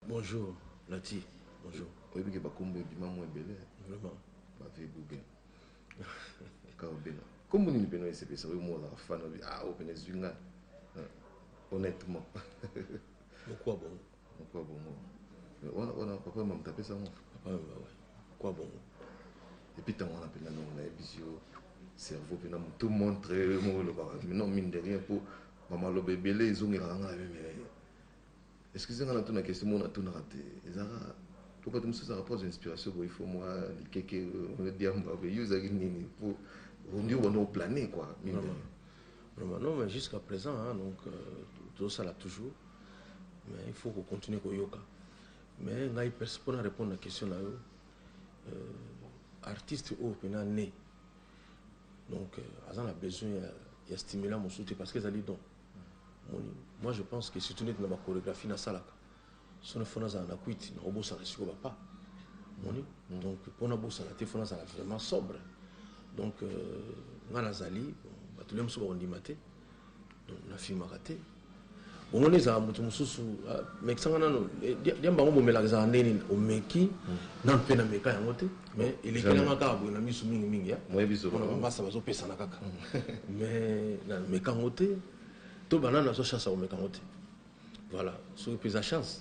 Bonjour, Nati. Bonjour. Oyebi ke bakombo ebima mwa ebele. Vraiment. Ba vie bouge. Kao bena. Kombo nini pena esepesa oyo mwa ozalaka fan obi ah oyo pena ezwi ngai. Honnêtement. Pourquoi bon? Kwa bongo. Mais wana wana papa mama tapesa ngo. Papa mama. Kwa bongo. Et puis tango wana pena non na ebisi yo cerveau pena tout montre mo lo ba. Mais non mine de rien pour mama lo bebele ezongela nga mais mais. Excusez nga na tuna question mo na tuna te. Ezaka pourquoi tu me sous rapport aux inspirations boy faut moi likeke on dit amba be user nini pour on dit on au planer quoi. Mine de rien. Vraiment non mais jusqu'à présent hein, donc euh, tout ça là toujours. Euh, mais il faut ko continuer ko yoka mais ngai perso pona répondre na question na yo euh, artiste oyo pena ne donc euh, aza na besoin ya, ya stimulant mosusu te parce que ezali don moni moi je pense que surtout neti na bachorégraphie nasalaka so na fo nazala na kwiti nakobosana siko bapa moni donc mpo nabosana te fo nazala vraiment sobre donc euh, ngai nazali bato le mosusu bakondima te nafimaka te bongo nde ezalaka moto mosusu ah, mekisanga nano eh, diamba yango bomelaka ezalaka nde nini omeki hmm. nano mpe nameka yango te mais elekelanga kaka boye na miso mingimingi ya mpona bambasa bazopesana kaka hmm. mais nameka yango te to banani nazwa chance ya komeka yango te voilà soki mpe eza chance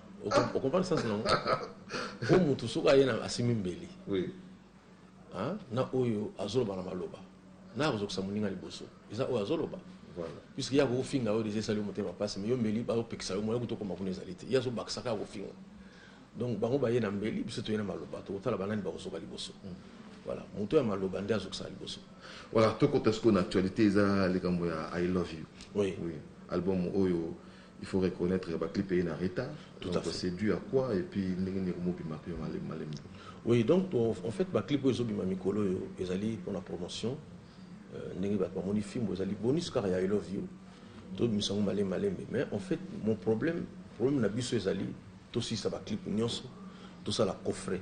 okompane sens nango o motu soki aye na asimbi mbeli na oyo azoloba na maloba na akozokisa moninga liboso eza oyo azoloba puisque ye akofinga oyo deja esali yo motema mpasi me yo mbeli baopekisa yo moya kutu okoma kuna ezali te ye azobakisaka ya kofinga donc bango baye na mbeli biso toye na maloba tokotala banani bakozoka liboso mm. voilà moto ya maloba nde azokisaka liboso voilà tokota sikoyo na actualité eza likambo ya i love you oui. oui. album oyo Il faut reconnaitre ba clip eye na retard. Tout à fait. C'est dû à quoi et puis ndenge nini ekomo bima pe malembe malembe. Oui, donc en fait ba clip oyo ezo bima mikolo oyo ezali pona promotion euh, ndenge bato bamoni fimbo ezali bonus kaka ya I love you tobimisa yango malembe malembe mais en fait mon problème problème na biso ezali tosilisa baclip nyonso tosala coffret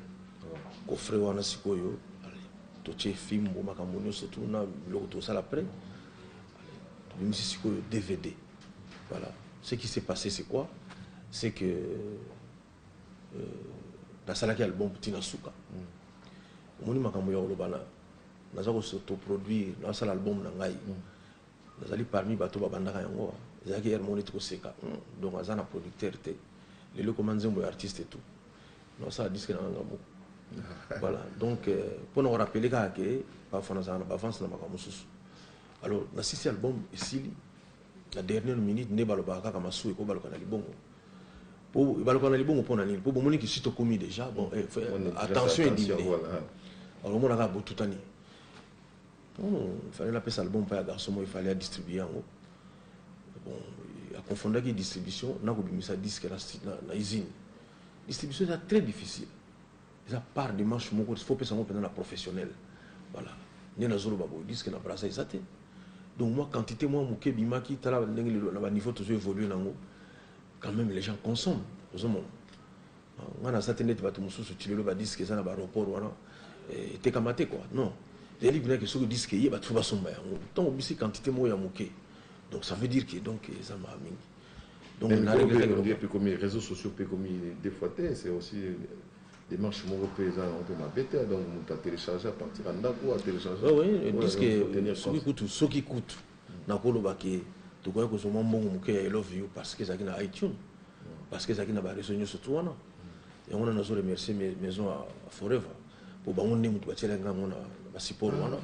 coffret wana sikoyo totie fimbo makambo nyonso tuna biloko tosala près tobimisi sikoyo dvd Voilà. Ce qui s'est passé, c'est quoi C'est que euh, nasalaki album tina suka mm. omoni makambo ya koloba na naza kosotoproduire nasala album na ngai mm. nazali parmi bato babandaka yango ezalaki yare moko neti koseka mm. donc aza na producteur te lelo ekoma nzembo ya artiste tout nasala diske na nganga moko voilà donc mpo euh, na korapele kaka ke bafana azalaka na bavance na makambo mosusu alors nasisi album esili na dernière minute nde balobaka kaka masuwa ekobaluka na libongo po ebaluka na libongo mpo na nini mpo bomoni kisi tokomi déjà bon eh, attention edimine alomona kaka botutani hmm, fallait napesa album mpa ya garçon moko efallait adistribue yango bon aconfondaki distribution nakobimisa disque na, na, na usine distribution eza très difficile eza part de manche moko il faut pesa ngo pena na professionnel voilà nde nazoloba boye disque na brasa eza te donc moi quantité moi moke ebimaki tala ndenge lelo na ba niveau tozo évoluer nango quand même les gens consomment ozomona ah, nga naza te ndeti bato mosusu ti lelo badisque eza na baroport wana eh, etekama te kua non ezali mpena ke soki diske eye bato fo basomba yango ntango obisi quantité moko ya moke donc ça veut dire ke donc eza maa mingi Donc, Même na regretter que bien ekomi réseaux sociaux pe ekomi des fois te c'est aussi démarche moko pe eza yango pe mabe te donc moto a télécharger à partir ya ndako a télécharger oh, oui, ouais, puisque soki kutu soki kutu nakoloba ke tokoki kozwa mwa mbongo moke ya elove you parce que ezalaki na itunes parce que ezalaki na bareseau nyonso tu wana yango na nazo remercier maison ya forever po bango nde moto batiela nga yango na basiporo wana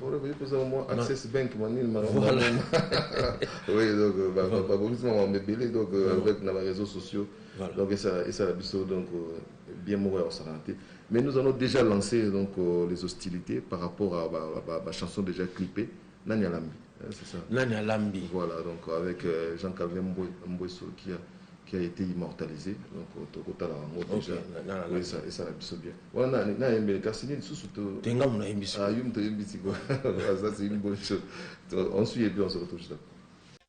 babongisi makambo ebele donc euh, avec na bareseau sociaux donc esala biso donc euh, bien moko ya kosakana te mais nous allons déjà lancer donc euh, les hostilités par rapport à bachanson déjà clippé Nani alambi? Eh, c'est ça. Nani alambi? Voilà, donc avec euh, Jean Calvin Mbwe, Mbwe Sokia. qui a été immortalisé donc euh, tokotala yango déjà esala biso bien wana nayembeli kasi nini susu tenga mona yembisi ah, yo moto oyembi sikoyo ça c'est une bonne chose on suit et puis on se retrouve juste après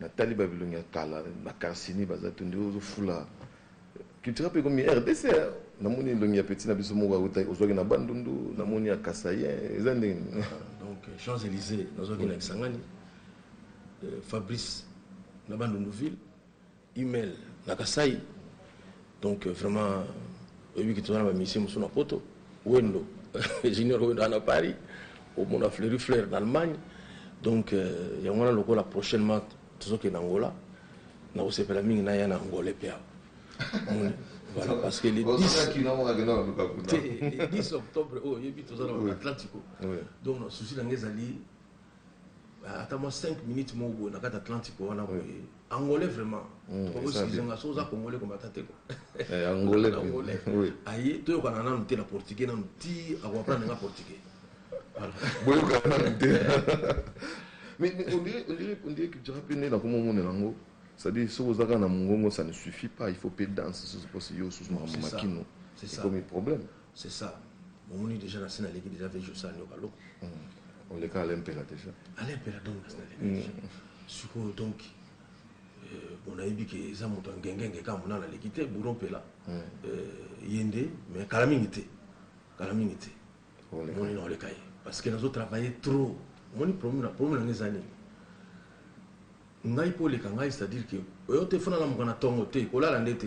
Natali ba bilongi ya kala ba carcini baza tu nde ozo fula culturel pe komi rdc hein namoni elongi ya petit na biso moko awuta ozwaki na bandundu namoni ya kasaien eza ndenge donc champs elysee nazwaki na kisangani euh, fabrice na bandundu ville Hummel na Kasaï donc vraiment oyebi que toza na ba musiciens mosusu na poto Wendo Junior Wendo aza na Paris omona Fleury Fleur na Allemagne donc euh, yango wana lokola prochainement tozokende Angola nakosepela mingi naya na Angola mpe awa omoni voilà parce que le 10 te le 10 octobre oyo oyebi toza na Atlantico donc na souci na ngai ezali Ah, ata mwa 5 minutes moko boye na kati atlantique wana boye angolais vraiment hmm, okoskize nga so oza congolais komata te eh, angolais aye toyokana nanu te na portugais nanu ti akoaprendre nga portugais boyokana nanu te mais on dirait que jara mpe nde nakomomonela yango c'est-à-dire soki oza kaka na mongongo ça ne suffit pas il faut mpe danse sosi mposi yo osusu makambo makino ekomi problème C'est ça. Omoni deja na sina leki deja vejo sa nyoka lo. Hmm. On le cas Alain Pela déjà. Alain Pela donc na sina leki. Hmm. Sikoyo donc euh, bon ayebi ke eza moto ngengenge kaka mona na leki te bouro Pela. Hmm. Euh, ye nde mais kala mingi te. Kala mingi te. Omoni na oleka ye parce que nazo travailler trop. Omoni problème na problème na ezali. Ngai po oleka ngai c'est-à-dire que oyo te fona na mokana tongo te kolala nde te.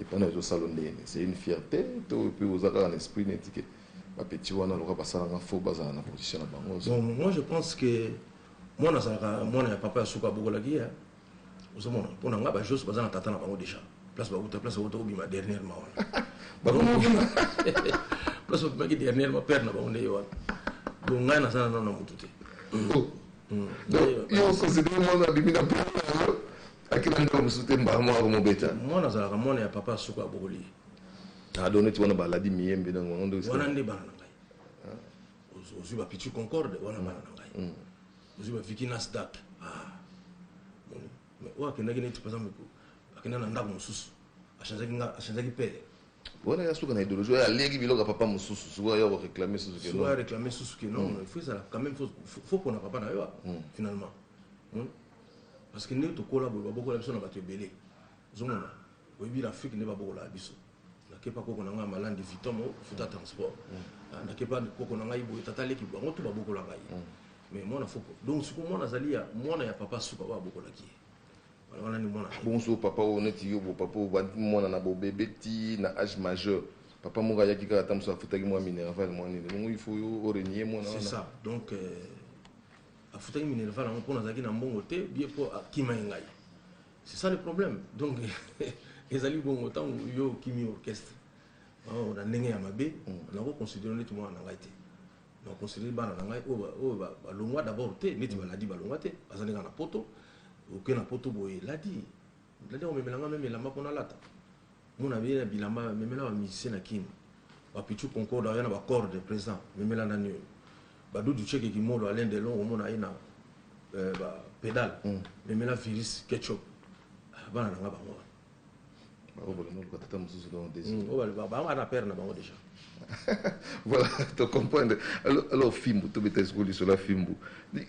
Epa nayo ezo salo ndenge nini c'est une fierte to pe oza kaka na esprit neti ke ba petit wana lokola basala nga faux bazala na position na bango ozo. Bon moi je pense que mwana azalaka mwana ya papa ya suka abokolaki ye ozo mona pona nga ba jos baza na tata na bango dejà place ba wuta place ba wuta obima dernièrement wana bakoma kuna place obimaki dernièrement père na bango nde ye wana donc ngai naza na nano na mutu te. Yo okosidere mwana abimi na père na yango Akima ndeko mosusu te mbala moko akomobeta. Mwana azalaka mwana ya papa suka abokoli ye. Ah donc neti wana baladi miyembe donc bango nde. Wana nde bana na ngai. Ah. Ozwi ba Pichu Concorde wana bana na ngai. Mm. Ozwi ba Vicky Nasdaq. Ah. Mais oyo akendaki neti par exemple akenda na ndako mosusu achangeaki nga achangeaki pele wana ya suka na idéologie oyo alieki biloko ya papa mosusu sikoyo ayo koréclame susu ke non réclame susu ke non il faut ezala quand même faut pona papa na yo finalement Parce que ndenge tokola boye babokola biso na bato ebele ozomona oyebi na Afrique nde babokolaka biso nakepa koko na ngai ya malandi viton mo futa transport mm. ah, nakepa koko na ngai boye tata leki bango to babokolaka ye mm. mais mwana foko donc siko mwana azali ya mwana ya papa suka oyo abokolaki ye wana ni mwana bonso papa oyo neti yo bo papa oyo bandi mwana na bobebe ti na age majeur papa moko ayaki kaka ata mosusu afutaki mwa minerval mwa nini longo il faut yo orenie mwana wana c'est ça donc euh... afutaki minerval yango mpo nazalaki na mbongo te bie mpo akima ye ngai c'est ça le problème donc ezali bongo ntango yo okimi orchestre oh, na ndenge ya mabe mm. nakoconsidere neti mwana na ngai te nakoconsidere bana na ngai oyo balongwa d'abord te neti mm. baladi balongwa te baza ndenge na poto oke na poto boye eladi Olingi komemela nga meme elamba mpo nalata? Mona beye na bilamba, memela ba musicien na kin. Ba Pitchou Concorde aoya na ba corde present, memela nani oyo? Ba Doudou Tsheke Kimolo, Alain Delon omona aye na euh, ba pedale, memela Virus, Ketchup. Ah, bana na nga bango wana. Baobola noluka tata mosusu donc desu. Oyo baloba bango bana père na bango deja. Voilà to comprendre alors fimbu to beta esiko lisolo ya fimbu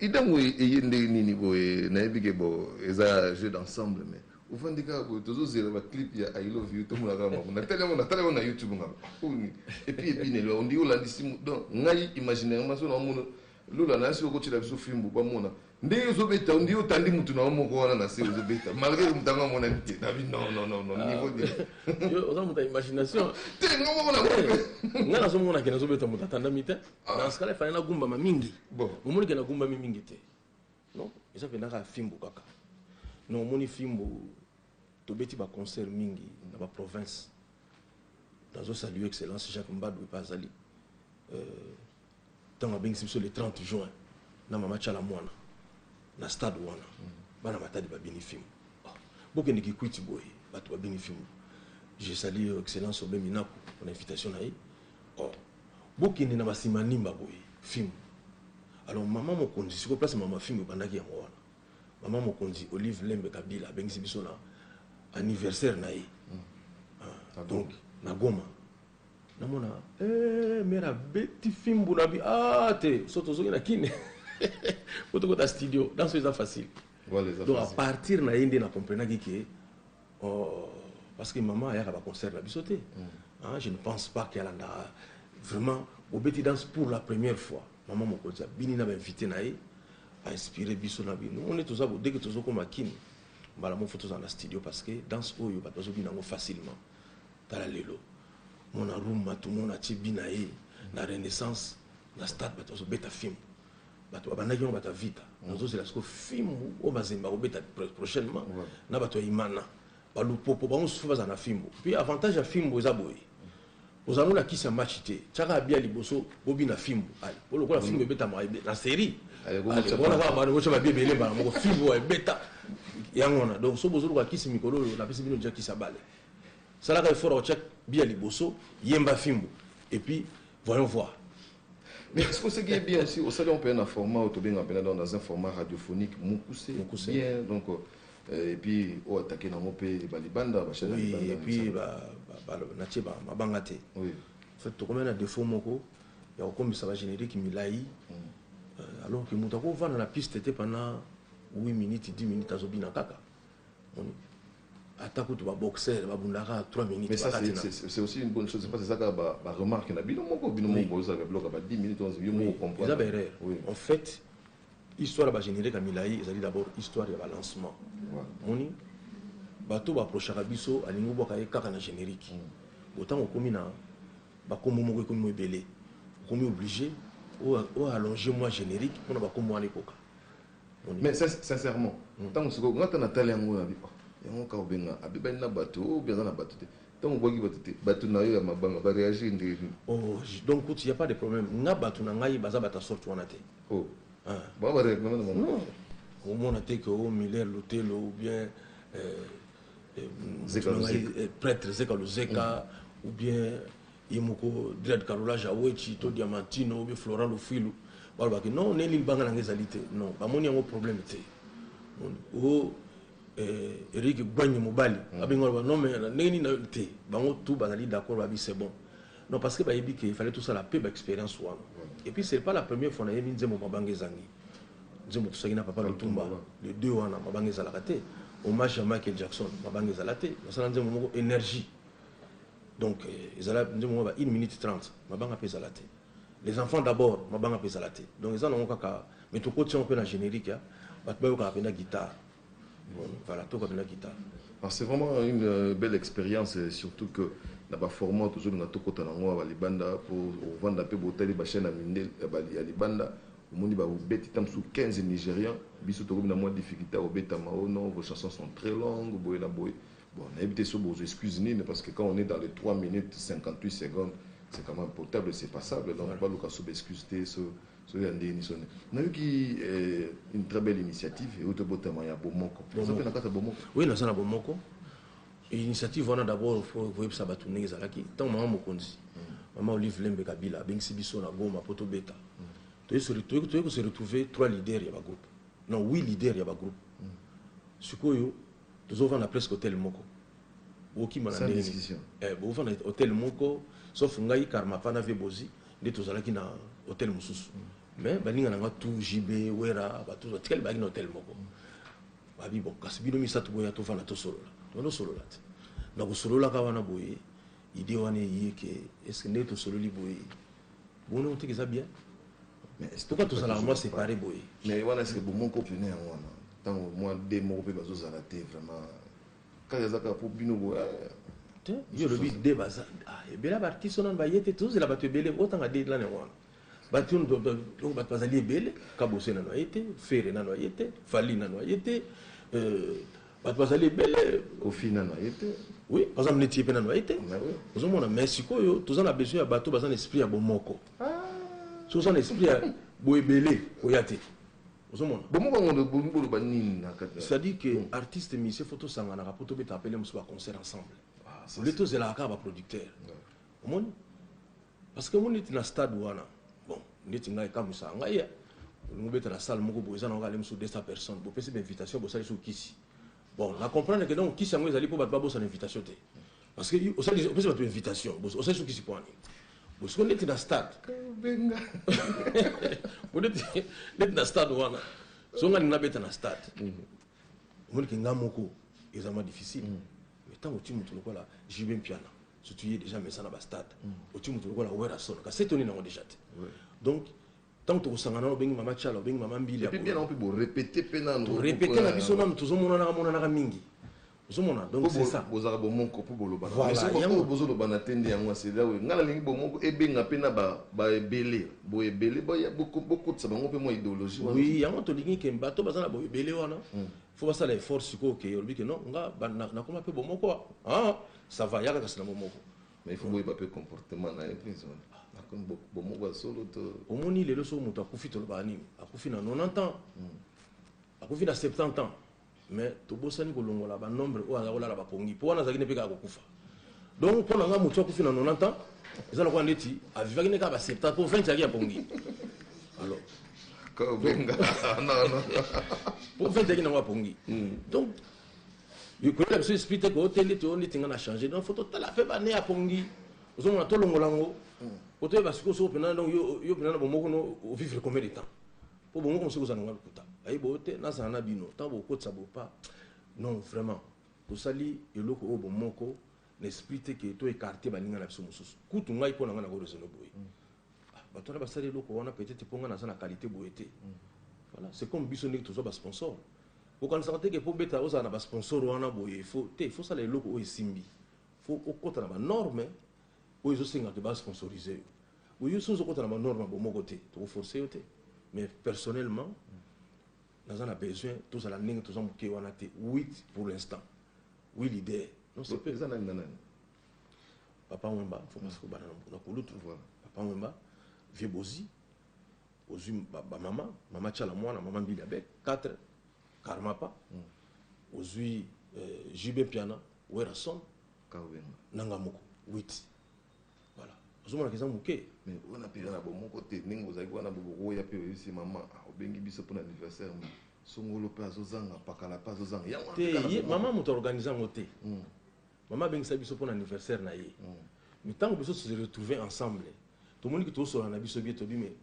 idango eye ndenge nini boye nayebi ke bo eza jeu d'ensemble mais ovandi kaka boye tozozela baclip ya i love you tomona kaka makambo natali yango natali yango na youtube ngaba oyo nini epuis epinelo ondiki olandisi donc ngai imaginairement so naomona Lola nase oko tiela biso fimbu ba mona ndenge ozo beta ondi yo otandi mutu na yo moko wana nase ozo beta malgre que mutu yango amonani te na bi non non non non niveau de yo oza mutu ya imagination te nga moko na bope nga nazo mona ke nazo beta mutu atandami te na skala fana na gumbama mingi bon omoni ke na gumbami mingi te non eza penda ka fimbu kaka non omoni fimbu tobeti ba concert mingi na ba province nazo saluer excellence Jacques Mbadou pe azali euh, Tango abengisi biso le 30 juin na mama Tshala Muana na stade wana, bana Matadi babini fimbu. Oh, bokende Kikwiti boye, batu babini fimbu. Je salue Excellence Aube Minaku pona invitation na ye. Oh, bokende na ba Simanimba boye, fimbu. Alors mama mokonzi, sikoyo place mama fimbu ebandaki yango wana. Mama mokonzi Olive Lembe Kabila abengisi biso na anniversaire na ye. Donc na Goma. Namona eh mère abeti fimbu na bi ah te so tozoki na kin po tokota studio danso eza facile Voilà, eza donc à facile. partir na ye nde na comprenaki ke oh, parce que maman ayaka ba concert na biso te Ah, je ne pense pas ke alandaka vraiment bobeti danse pour la première fois maman mokonzi abini na bainvité na ye ainspire biso na bino mone toza bo- dès que tozokoma kini mbala moko fo tozala na studio parce que danse oyo bato bazobina yango facilement Tala lelo mona rumba tout monde atie bi na ye na renaissance na stade bato bazo beta fimbu bato ba bandaki yango bato ya vita nazo zela siko fimbu oyo mazembe ako beta prochainement na bato ya imana ba lupopo bango susu baza na fimbu puis avantage ya fimbu eza boye ozala ngo na kisi ya match te tiaka abia liboso bobi na fimbu ale po lokola fimbu ebeta ma na série wana kaka bana bocha babi ebele bana moko fimbu ebeta yango wana donc so bozo luka kisi mikolo oyo napesi bino deja kisi ya bale Salaka effort ya kotia bi ya liboso, yemba fimbu et puis voyons voir. Mais est-ce que oseki ye bien aussi osali yango mpena na format oyo tobenga mpena donc dans un format radiophonique mokuse Mokuse. bien donc euh, et puis oyo atake nango mpe balibanda bachaine ya Oui, libanda et puis ba, ba, ba, natie ba mabanga te. oui En fait, tokomai na défaut moko ya kokomisa ba générique milai euh, alors que moto akovanda na piste te pendant 8 minutes 10 minutes azobina kaka ata kutu baboxeur babundaka 3 minutes c'est aussi une bonne chose parce que ezaka baremarque na bino moko bino moko bozalaka biloko ba 10 minutes 11 yo moko comprendre eza baerreur en fait histoire ya bagénérique ya milai ezali d'abord histoire ya balancement moni bato baprochaka biso alingi obwaka ye kaka na générique mm. otango okomi na bakombo moko ekomi mo ebele okomi oblige oallonge mwa générique mpona bakombo wana ekoka Mais sincèrement, tango sikoyo nga ata natali yango na bi oh yango kaka obenga abebani na batu ou bien aza na batu te tango obwaki batu te batu na yo ya mabanga ba reagir ndenge nini? Oh donc kutu il ya pas de problème nga batu na ngai baza batu ya sorte wana te oh bango ba reagir na bango non omona te que oh Miller Lutelo ou bien eh, eh, Zeka Luzeka. eh, prêtre Zeka Luzeka ou bien ye moko dread carrelage ya wetshi to diamantino oyo florent lufuilu balobaki non neli libanga na nga ezali te non bamoni yango problème te o eh, eric gwanye mobali mm. abengi baloba non mais ndenge nini te bango tout bazali d'accord babi c'est bon non parce que bayebi ke fallait tosala mpe baexpérience wana mm. et puis c'est pas la première fois nayebi nzembo mabanga ezangi nzembo tosaki na papa lutumba le deux wana mabanga ezalaka te hommage ya michael jackson mabanga ezala te nasala nzembo moko énergie Donc ezala nzembo moko ba une minute 30 mabanga mpe ezala te. Les enfants d'abord mabanga mpe ezala te. Donc eza nango kaka mais tokotisi yango mpe na generique ya bato bayokaka mpenza guitare. Bon, voilà toyoka mpenza guitare. Alors c'est vraiment une euh, belle expérience et surtout que na ba format tozolinga tokota na yango ya balibanda mpo ovanda mpe botali bachaine ya mindele ya ba- ya libanda omoni babeti ta mosusu 15 nigérian biso tokomi na mwa difficulté ya kobeta mao non vos chansons sont très longues boye na boye Bon nayebi te soki bokozwa excuse nini parce que quand on est dans les 3 minutes 58 secondes c'est quand meme potable et c'est passable donc baluka soki ba excuse te so so ya ndenge nini soni nayoki eh, une très belle initiative euti obotama ya bomoko eza mpe na kati ya bomoko oui naza na bomoko initiative wana d'abord fo koyebisa bato ndenge ezalaki ntango mama mokonzi mama olive lembe kabila abengisi biso na goma mpo tobeta toyei kose retrouve trois leader ya bagroupe non huit leader ya bagroupe sikoyo tozo vanda presque hotel moko bokima na ndenge nini eh bo vanda hotel moko sauf ngai karma pa na vie bozi nde tozalaki na hotel mosusu mm. mais baninga na nga tout JB Wera batu batikali baki na hotel moko mm. babi bon kasi bino misato boya to vanda to solola to no solola te na kosolola ka wana boye idée wana eye ke est-ce que nde tosololi boye bono te eza bien Mais est-ce pourquoi tous en moi séparé boy Mais wana est-ce que bon mon couple né en wana tant moi des mots pe bazo zala te vraiment quand ya zaka pour bino boy eh. yo lobi de baza ah ebela ba artiste on ba yete tous la batu ebele otanga de la ne wana batu ndo ndo batu bazali ebele kabose na noye te fere na noye te fali na noye te euh batu bazali ebele kofi na noye te oui par exemple neti ye pe na noye te ozomona mais sikoyo toza na besoin ya bato baza na esprit ya bomoko soki oza na esprit ya boebele koya te ozomona bomobangoboloba nini na kati c'est-à-dire que hmm. artiste musicien fo tosanganaka mpo tobetaka mpele mosusu baconcert ensemble ah, ole tozelaka kaka baproducteur omoni parce que omoni neti na stade wana bon neti ngai ekamwisaka ngai ya olingi obeta na salle moko boye eza na okale mosusu 200 personnes bopesi bainvitation bosali so kisi bon na comprendre ke donc kisi yango ezali mpo bato babosana invitation te Parce que au stade, opesi bato invitation osalisi okisi mpo nini bosiko ndeti na stade benga ndeti na stade wana so nga nina beta na stade mhm. omoni ke nga moko eza mwa difficile mhm. mais ntango oti moto lokola jb mpiana sotu ye déjà mesa na bastade mhm. oti moto lokola werrason kasi etoni nango déjà te donc Tango toko sangana wana obengi mama tshala obengi mama mbili ya boye. Epuis bo repeter pe nanu. To repeter na biso nanu tozo monanaka monanaka mingi. Ozo mona donc c'est ça. Bozalaka bomoko po bolobana. Voilà. Mais soki oyo bozo lobana te nde yango c'est là où nga na lingi bomoko ebenga pe na ba ebele. Bo ebele bo kotisa bango pe mua ideologie wana. Oui yango to lingi ke bato baza na bo ebele wana faut ba sala effort sikoyo ke olobi ke non nga nakoma pe bomoko ah ça va yaka kasi na bomoko. Mais il faut boyeba pe comportement na ye prince wana akomi bomoko ya solo to omoni lelo soki moto akufi tolobaka nini akufi na 90 ans hmm. akufi na 70 ans mais tobosani kolongola banombre oyo aza kolala bapongi mpo wana azalaki ne mpe kaka kokufa donc mpo na ngai motu akufi na 90 ans eza lokola ndeti avivaki nde kaka ba 70 mpo 20 ezalaki ya pongi alors mpo 20 ezalaki nango ya pongi hmm. donc koyela biso esprit te ko te ndeti oyo ndeti nga na changer donc faut totala mpe bane ya pongi ozomona tolongola yango po toyeba sikoyo soko mpena donc yo mpena na bomoko no ovivre combien de temps po bomoko mosuki ozala nanga lokuta ayi boyo te nazala na bino ntango bokotisa bopa non vraiment tosali eloko oyo bomoko na esprit te ke to écarte baninga na biso mosusu kutu ngai mpo na ngai nako raisonne boye bato wana basali eloko wana peut-être mpo ngai naza na qualité boye te voilà c'est comme biso ndenge tozwa basponsor okanisaka te ke mpo obeta ozala na basponsor wana boye fo te fo osala eloko oyo esimbi fo okɔta na banorme oyo ezosenga ke basponsorise yo boye yo so ozokɔta na banorme bomoko te tokoforce yo te mais personnellement naza na besoin tozala ndenge toza moke wana te 8 pour l'instant oui leader non c'est eza nani na nani Papa Wemba, faut pas se bana na kulutu. Papa Wemba, vieux Bozi, ozui ba, ba mama, mama Chala mwana, mama Mbili Abel, 4 Karmapa, mm. ozui euh, JB Piana, Werrason, Kawemba, nanga moko, 8. Voilà. Ozomona keza muke. Mais on a pire na bomoko te, ningo ozaki wana bobo ya pe oyisi mama, ah, obengi biso pour l'anniversaire. Mais... songolo mpe azozanga pakala mpe azozanga yango te ye mama moto aorganize yango te mm. Mama abengisa biso pona anniversaire na ye. Mais tango biso to se retrouver ensemble, tomoni que tozo solola na biso bien, tolobi mais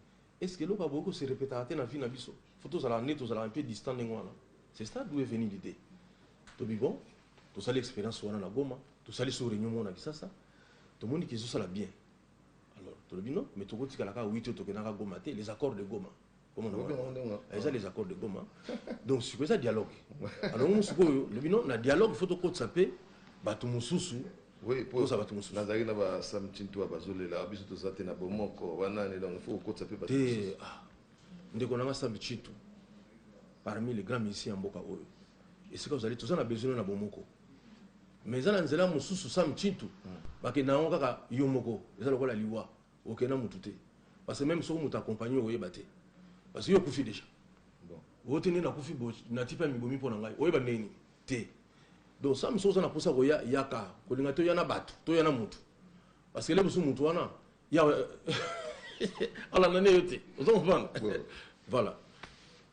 est ce que eloko akoki ko se repetaka te na vie na biso? Faut tozalaka nde tozalaka un peu distant ndenge wana. C'est ça d'où est venu l'idee. Tolobi bon, tosali experience wana na Goma, tosali sous reunion moko na Kisasa, tomoni que ezosala bien. Alors tolobi non, mais toko tikala kaka Witi oyo tokendaka Goma te, les accords de Goma. eza les accords de goma donc siko eza dialogue alors ngo sikoyo lobi no na dialogue faut tokotisa mpe bato mosusu oza bato mosusu nazalaki na basamtintu ya bazolela biso toza te na bomoko banani donc faut kokotisa mpe bato te ah. ndeko nanga sambi chitu parmi les grands musiciens ya mboka oyo esika ozali toza na besoin na bomoko mais eza na nzela mosusu samtintu hmm. bakenda yango kaka yo moko eza lokola liwa Oke na mutu te parce que meme soki mutu accompagne oyeba te parce que yo okufi deja oyo te nde nakufi bo nati mpe mibomi mpo na ngai oyeba ndenge nini te donc sami soki oza na mposa koya yaka kolinga toya na bato toya na mutu parce que le mosusu mutu wana ya alanda nde yo te oza komprendre voilà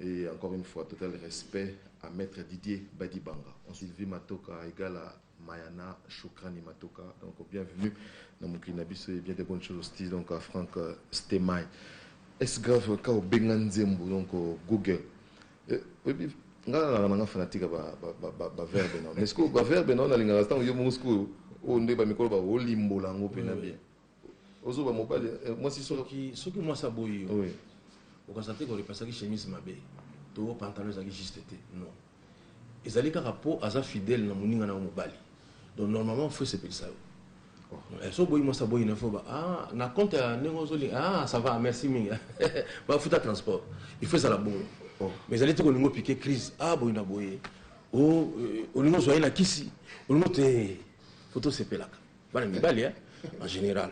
Et encore une fois, total respect à Maître Didier Badibanga. On Sylvie Matoka égale à Mayana Choukrani Matoka. Donc bienvenue dans mon Kinabiso et bien des bonnes choses aussi donc à Franck euh, Stemay. Est-ce grave quand au Benganzembo donc au Google euh, nga nalaka nanga fanatique baverbe nao mais sikoyo baverbe nao nalingaka ntango yo moko sikoyo oyo nde bamikolo baolimbola yango mpena bien Ozo ba mobali eh, mwasi solo. Soki soki mwasi aboyi yo. Oui. Okasa te ko repasaki chemise mabe. To pantalon ezaki juste te. Non. Ezali kaka po aza fidèle na muninga na mobali. Donc normalement faut se penser yo. Eh, so boyi mwasi aboyi na foba ah, na compte ya ndenge ozoli ah, ça va merci mingi bafuta transport il faut ezala bongo oh. mais ezali te kolingo pike crise ah, boyi na boye oh, eh, olingo ozwa ye na kisi olingo te fo tosepelaka bana mibali hein en général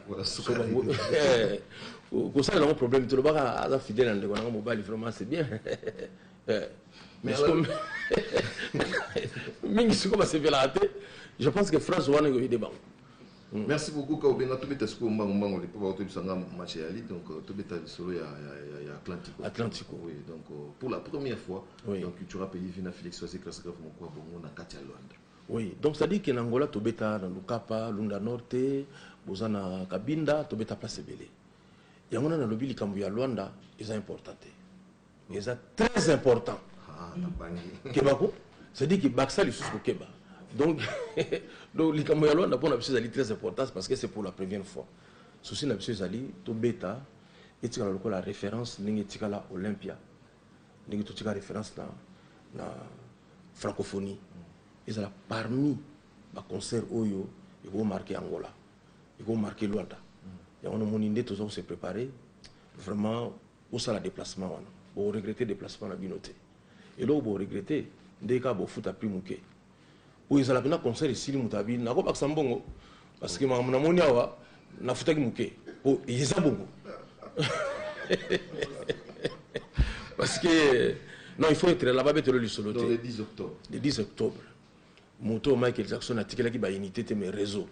kosala nango problème te lobaka aza fidèle na ndeko nango mobali vraiment c'est bien eh, mais mingi siko basepelaka te je pense que france wana ekoyede bango Mm. merci beaucoup ka obenga tobeta sikoyo mbango mbango lipo bakotoyebisa nga match ya ligue donc euh, tobeta lisolo ya, ya, ya, ya atlantico atlantico oui donc euh, pour la première fois oui. donc tu auras payé vina félix oise grâce grave moko ya bongo na kati ya londres Oui donc c'est à dire que na Angola tobeta na Lukapa, Lunda Norte, boza na Cabinda tobeta place ebele. Yango na nalobi likambo ya Luanda eza important te. Mais eza très important. Ah, na bangi. Keba ko, c'est à dire que baksa lisusu ko keba. Donc donc likambo ya Luanda pona biso ezali très important parce que c'est pour la première fois. Souci na biso ezali tobeta etikala lokola référence ndenge etikala Olympia. Ndenge totika référence na na Francophonie ezala parmi ba concerts oyo eko marquer Angola, eko marquer Luanda. Yango wana omoni nde toza ko se preparer vraiment bosala deplacement wana boko regretter deplacement na bino te. Eloko boko regretter nde kaka bofuta prix muke. Po ezala penza concert esili mutu alobi nako bakisa mbongo. Parce que makambo namoni awa nafutaki moke po eza bongo parce que non il faut être là-bas betelo lisolo te le 10 octobre le 10 octobre moto Michael Jackson atikelaki ba unité te mais réseau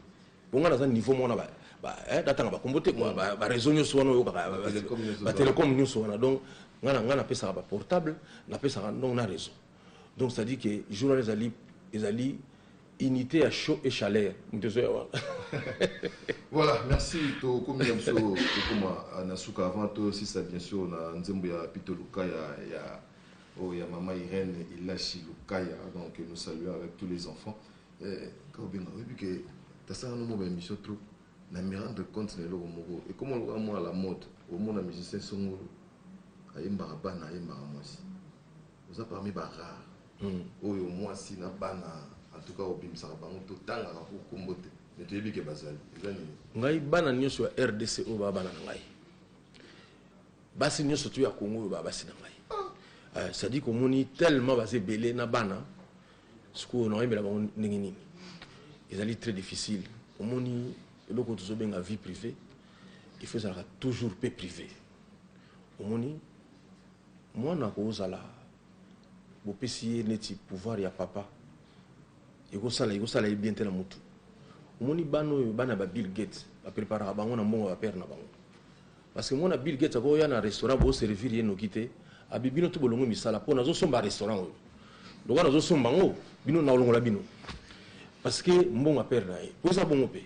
bonga naza niveau mona ba ba eh datanga ba kombo te quoi ba réseau nyoso wana yo kaka ba télécom nyoso wana donc ngana ngana pesa ba portable na pesa donc na réseau Donc ça dit que jour wana ezali ezali unité ya chaud et chaleur moto ezoya wana voilà merci tokomi na biso tokoma ah, na suka avant tosisa bien sûr na nzembo ya pito lukaya ya oyo oh, ya mama irène ilashi lukaya donc nous saluons avec tous les enfants eh, kaobenga oyebi ke tasala nomo ba émission trop na me rendre compte na eloko moko ekoma lokola mwana la mode omona musicien songolo ayembaka bana ayembaka mwasi Oza parmi ba rare oyo muasi na bana en tout cas obimisaka bango to tangaka ko kombo te mais toyebi ke bazali eza nini? Ngai bana nioso ya rdc oyo ba bana na ngai basi nioso tu ya congo oyo ba basi na ngai ah. ça dit komoni tellement baza ebele na bana sikoyo nakoyembela bango ndenge nini ezali très difficile omoni eloko tozobenga vie privée il faut ezalaka toujours pe privé omoni Mwana ako zala bopesi ye neti pouvoir ya papa eko sala eko sala ye bien te na mutu omoni bana oyo bana ba Bill Gates ba preparaka bango na mbongo ya ba père na bango parce que mwana Bill Gates ako ya na restaurant bo servir ye noki te abi bino tout bolongwe misala po nazo somba restaurant oyo lokola nazo somba ngo bino nao longola bino parce que mbongo ya père na ye po eza bongo pe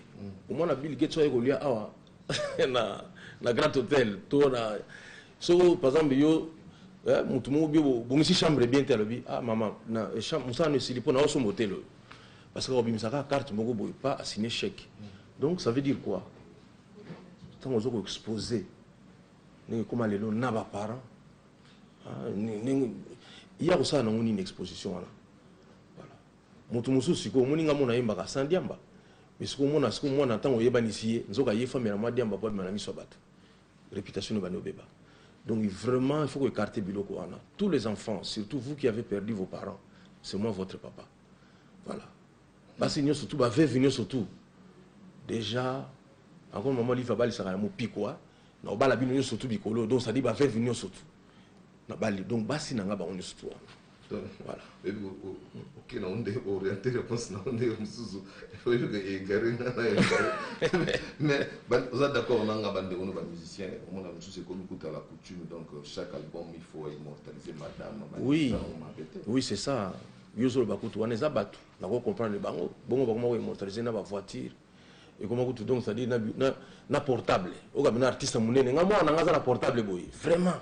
omwana Bill Gates oyo aye kolia awa na na grand hotel to na soko par exemple yo eh, mutu moko bio bongisi chambre bien te alobi ah mama na eh, chambre musala no esili mpo na osomba hotel oyo parce que obimisaka carte moko boye pas assigne chèque donc ça veut dire quoi ntango oza koexpose ndenge ekoma lelo na baparent ah, ndenge ye akosala nango nini exposition wana voilà Mutu mususu sikoyo omoni nga mona ayembaka sans diamba mais sikoyo omona sikoyo mwana tango oyebanisi ye nzoka ye famela mwa diamba po abima na miso ya batu reputation ebandi obeba donc vraiment il faut ko ecarte biloko wana tous les enfants surtout vous qui avez perdu vos parents c'est moi votre papa voilà basi nioso tout ba veuve nioso tout dejà encore maman live abalisaka na mopikwa na obala bino nioso tout bikolo donc ça dit ba veuve nioso tout na bali donc basi na nga bango nioso tout wana donc voilà oyebi oke na onde orienté réponse na onde yo mosusu oyebi ko égare nga na égare mais oza d'accord na nga bandeko no bamusicien omona mosusu ekomi kuta la coutume donc euh, chaque album il faut immortaliser madame oui oui c'est ça yo ozoloba kutu wana eza bato nako comprendre bango bongo bakoma ko immortaliser na bavoiture ekoma kutu donc c'est-à-dire na, na, na portable okambi na artiste monene nga mwana na nga aza na portable boye vraiment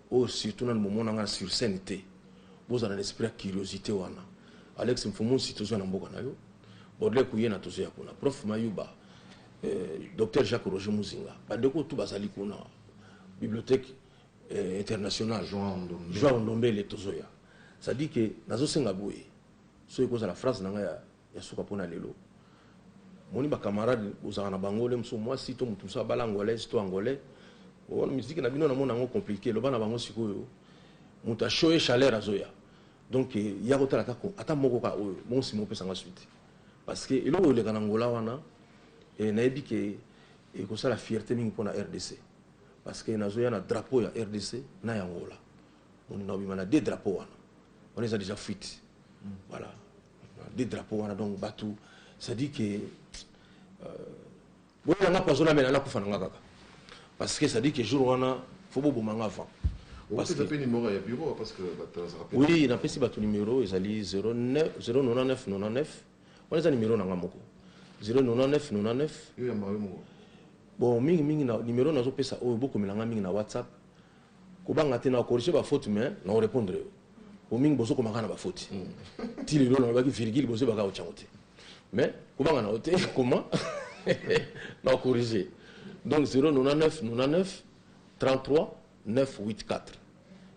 Oyo surtout nanu bomona nga sur scène te bozala na esprit ya curiosite wana Alex Mfumu nsi tozo ya na mboka na yo Baudelaire Kuyena tozo ya kuna Prof Mayuba euh, Docteur Jacques Roger Muzinga bandeko tout bazali kuna bibliothèque euh, internationale Joao Ndombele tozo ya c'est-à-dire que nazo senga boye soki kozala phrase na nga ya Ya suka pona lelo omoni ba camarade bozalaka na bango le mosusu muasi to mutu mosusu abala angolaise to angolais bon musique na bino na mona yango complique loba na bango sikoyo mutu a show ye chaleur azoya donc ya kotala ata ata moko ka oyo bon sima opesa nga suite parce que eloko eleka na ngola wana eh, nayebi ke ekosala fierté mingi pona rdc parce que nazoya na drapeau ya rdc na ya ngola moni na obima na deux drapeau wana wana eza déjà fuite mm. voilà de drapeau wana donc batu ça dit que euh, boyela nga poison amela nakufa na nga kaka parce que ça dit que jour wana fo boboma nga avant oui napesi bato numero ezali 0999 wana eza numero na nga moko 0999 bon mingi mingi numero nazopesa oyo bokomela nga mingi na whatsapp Kobanga te nako corriger ba fautes mais nako repondre yo. Po mingi bozo koma kaka na ba fautes. Ti lelo nalobaki virgule bozo yeba kaka kotia yango te. Mais kobanga na yo te koma nako corriger. Donc 099 99 33 984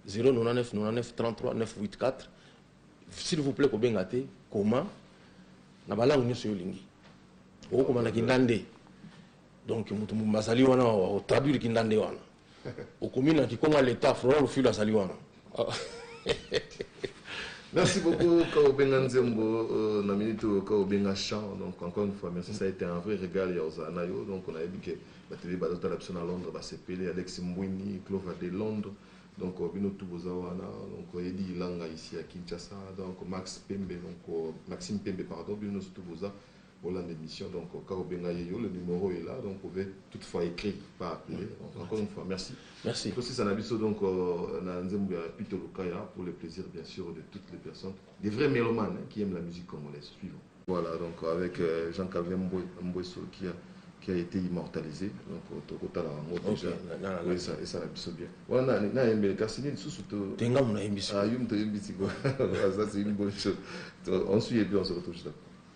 099 99 33 984 s'il vous plaît kobenga te koma na ba langue nyonso yo olingi. Okokoma na kindande. Donc mutu bazali wana o traduire kindande wana. okomi na kikongo ya leta florent lufilu azali wana Merci beaucoup, Kaobenga Nzembo, euh, na minute euh, Kaobenga Chant. Donc, encore une fois, merci, ça a été un vrai régal, Yaozana, yo. Donc, on a dit que la télé Balota Lapson à Londres, bah, c'est Pelé, Alex Mbouini, Clova de Londres. Donc, euh, Bino Toubozawana, donc, euh, Eddie Langa ici à Kinshasa, donc, Max Pembe, donc, euh, Maxime Pembe, pardon, Bino Touboza. Bolanda emission donc kaka obenga ye yo le numero est là donc pouvez toute fois ecrit pas appeler donc encore une fois merci merci tosisa na biso donc euh, na nzembo ya Pito Lukaya pour le plaisir bien sûr de toutes les personnes des vrais mélomanes hein, qui aiment la musique congolaise suivons voilà donc avec euh, Jean Calvin Mbwe Mbweso qui a qui a été immortalisé donc euh, tokotala yango déjà oui ça et ça la biso bien voilà na na yembe kasi nini susu to tenga mona yembi ah yum to yembi siko ça c'est une bonne chose on suit et puis on se retrouve juste après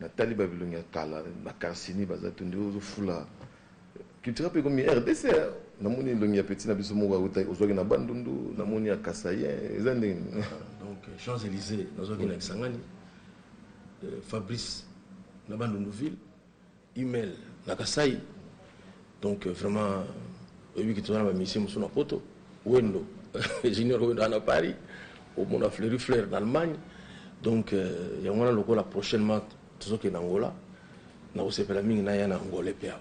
Natali ba bilongi ya kala ba carcini baza tu nde ozo fula culture pe komi rdc hein namoni elongi ya petit na biso moko awuta ozwaki na bandundu namoni ya kasaien eza ndenge donc champs elysee nazwaki na kisangani euh, fabrice na bandundu ville Hummel na Kasaï donc vraiment oyebi que toza na ba musiciens mosusu na poto Wendo Junior Wendo aza na Paris omona Fleury Fleur na Allemagne donc euh, yango wana lokola prochainement tozokende Angola nakosepela mingi naya na Angola mpe awa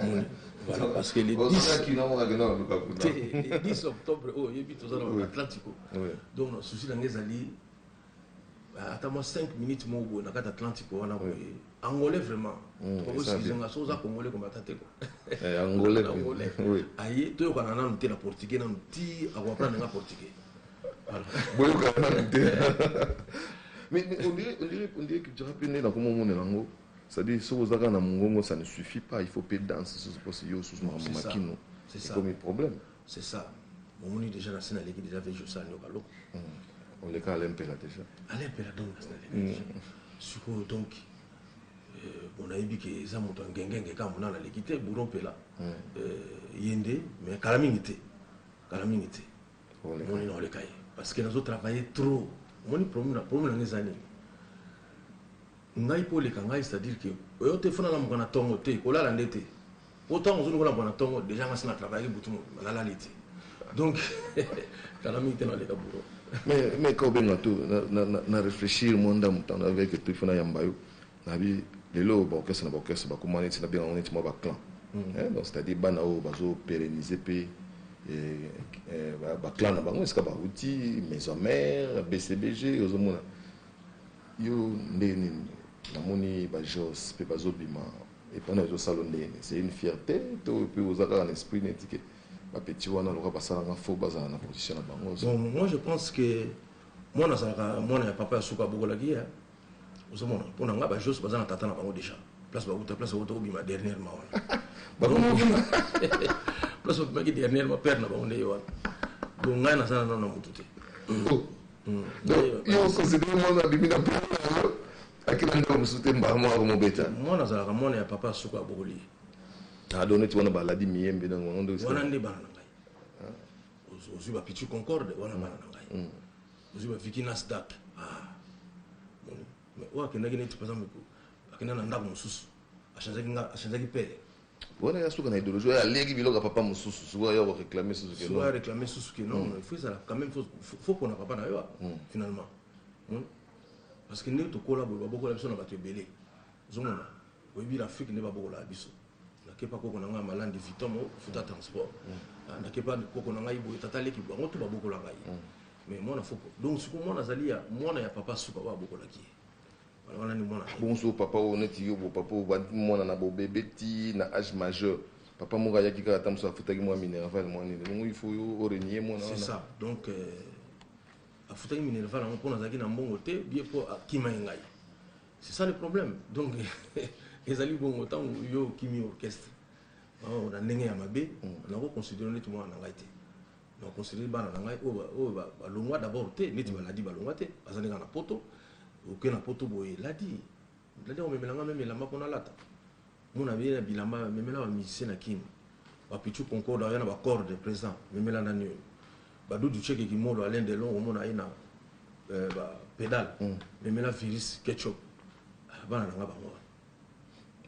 omoni voilà parce que le 10 te le 10 octobre oyo oyebi toza na Atlantico donc na souci na ngai ezali ata mwa 5 minutes moko boye na kati atlantique wana boye angolais vraiment hmm, tokoboskize nga so oza hmm. congolais komata te eh, angolais aye toyokana nanu te na portugais nanu ti akoaprendre nga portugais boyokana nanu te mais on dirait on dirait on dirait que tu rappelles nde nakomomonela yango c'est-à-dire soki oza kaka na mongongo ça ne suffit pas il faut mpe danse sosi mposi yo osusu makambo makino ekomi problème C'est ça. Omoni deja na sina leki deja vejo sa nyoka loko. Hmm. On leka Alain Pela deja. Alain Pela donc na sina leki hmm. deja. Sikoyo donc euh, bon ayebi ke eza moto ngengenge kaka mona na leki te bouro Pela. Hmm. Euh, ye nde mais kala mingi te. Kala mingi te. Omoni na oleka ye parce que nazo travailler trop. Omoni problème na problème na ezali. Ngai po leka ngai c'est-à-dire que oyo te fona na mokana tongo te kolala nde te. Oyo tango ozo lokola bwana tongo dejà nga si na travaillaki butu mobimba na lali te donc kala mingi te na leka bureau mais mais ka obenga tout na, na, na, na réfléchir mwa ndambo temps avec et puis fona yamba yo nabi lelo ba orchestre na ba orchestre bakoma neti na benga ngo neti mwa ba clan mm. eh, donc c'est à dire bana oyo bazo pérenniser mpe eh, eh, ba clan na bango esika bauti maison mère bcbg ozomona yo nde nini namoni bajos mpe bazobima Epana ezo salo ndenge nini c'est une fierte to pe oza kaka na esprit neti ke ba petit wana lokola basala nga faux bazala na position na bango. Bon moi je pense que mwana azalaka mwana ya papa ya suka abokolaki ye ozomona mpo na nga ba jos baza na tata na bango deja place bawuta place bawuta kobima dernièrement wana bakobima place babimaki dernièrement père na bango nde ye wana donc ngai naza na nano na motu te oh. hmm. yo okosidee mwana abimi na père na yango Akima ndeko mosusu te mbala moko akomobeta. Mwana azalaka mwana ya papa suka abokoli ye. Ah donc neti wana baladi miyembe donc bango nde. Wana nde bana na ngai. Ah. Ozwi ba Pichu Concorde wana bana na ngai. Mm. Ozwi ba Vicky Nasdaq. Ah. Mais oyo akendaki neti par exemple akenda na ndako mosusu achangeaki nga achangeaki pele wana ya suka na idéologie oyo alieki biloko ya papa mosusu sikoyo ayo koreklame susu ke non areklame susu ke non il faut ezala quand même faut pona papa na yo finalement Parce que ndenge tokola boye babokola biso na bato ebele ozomona oyebi na Afrique nde babokolaka biso nakepa koko na ngai ya malandi viton mo futa transport mm. ah, nakepa koko na ngai boye tata leki bango to babokola ngai mm. mais mwana foko donc siko mwana azali ya mwana ya papa suka oyo abokolaki ye wana wana ni mwana bonso papa oyo neti yo bo papa oyo bandi mwana na bobebe ti na age majeur papa moko ayaki kaka ata mosusu afutaki mwa minerval mwa nini longo il faut yo orenie mwana wana c'est ça donc euh... afutaki minerval yango mpo nazalaki na mbongo te bie mpo akima ye ngai c'est ça le problème donc ezali bongo ntango yo okimi orchestre oh, na ndenge ya mabe mm. nakoconsidere neti mwana na ngai te nakoconsidere bana na ngai oyo balongwa d'abord te neti mm. baladi balongwa te baza ndenge na poto oke na poto boye eladi Olingi komemela nga meme elamba mpo nalata? Mona beye na bilamba, memela ba musicien na kin. Ba Pitchou Concorde aoya na ba corde present, memela nani oyo? Ba Doudou Tsheke Kimolo, Alain Delon omona aye na euh, ba pedale, memela Virus, Ketchup. Ah, bana na nga bango wana.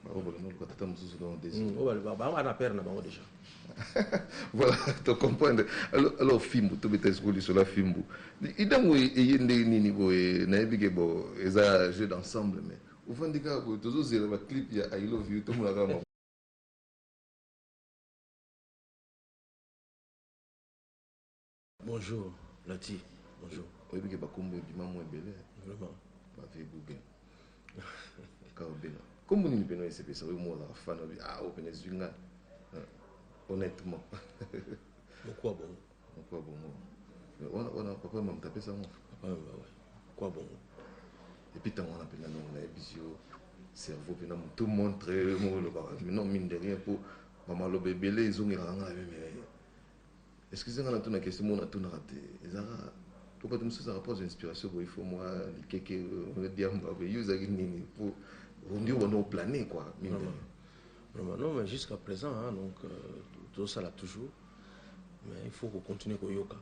Baobola noluka tata mosusu donc desu. Oyo ba, ba, ba, ba na père na bango deja. Voilà to comprendre alors fimbu to beta esiko lisolo ya fimbu idango eye ndenge nini boye nayebi ke bo eza jeu d'ensemble mais ofandi kaka boye tozozela ba clip ya i love you tomona kaka Bonjour Nati. Bonjour. Oyebi ke bakombo ebima mwa ebele. Vraiment. Ba vie Google. Kaobela. Kombo nini peno esepesa oyo mwa ozala fan obi ah oyo pene ezwi nga. Honnêtement. Mokwa bongo. Mokwa bongo. Wana wana papa mama tapesa ngo. Papa mama ouais. Mokwa bongo. Et puis tango wana pena non na ebisio cerveau pena tout montre mo lo ba. Mais non mine de rien pour mama lobe ebele ezongelaka nga meme. Excusez nga na tuna question moko na tunaka te ezaka po bato mosusu ezaka po azwa inspiration boye fo mwa likeke euh, diamba boye yo ezalaki nini po ondi obanda oplane kua mine non mais jusqu'à présent hein, donc euh, tozosala toujours mais il faut kocontinue koyoka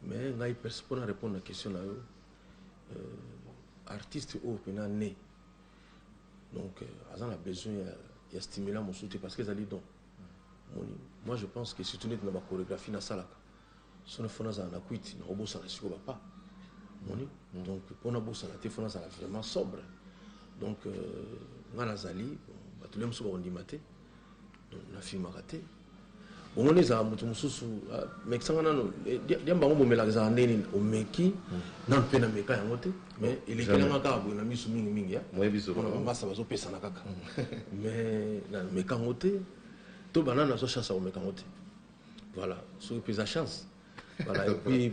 mais ngai perso mpo na répondre na question na yo euh, artiste oyo mpena ne donc euh, aza na besoin ya, ya stimulant mosusu te parce que ezali don omoni moi je pense que surtout neti na ba choregraphie nasalaka sono fo nazala na kwiti nakobosana sikoyo bapa omoni donc mpo nabosana te fo nazala vraiment sobre donc euh, ngai nazali bato le mosusu bakondima te donc nafilmaka te bongo nde ezala moto mosusu ah, mekisanga nano eh, diamba yango bomelaka ezala ndenge nini omeki hmm. nano mpe nameka yango te mais elekelanga kaka boye na misu mingi mingi ya mpona bamasa bazopesana kaka mm. mais nameka yango te to banana azwa chance ya komeka yango te voilà soki mpeza chance voilà et puis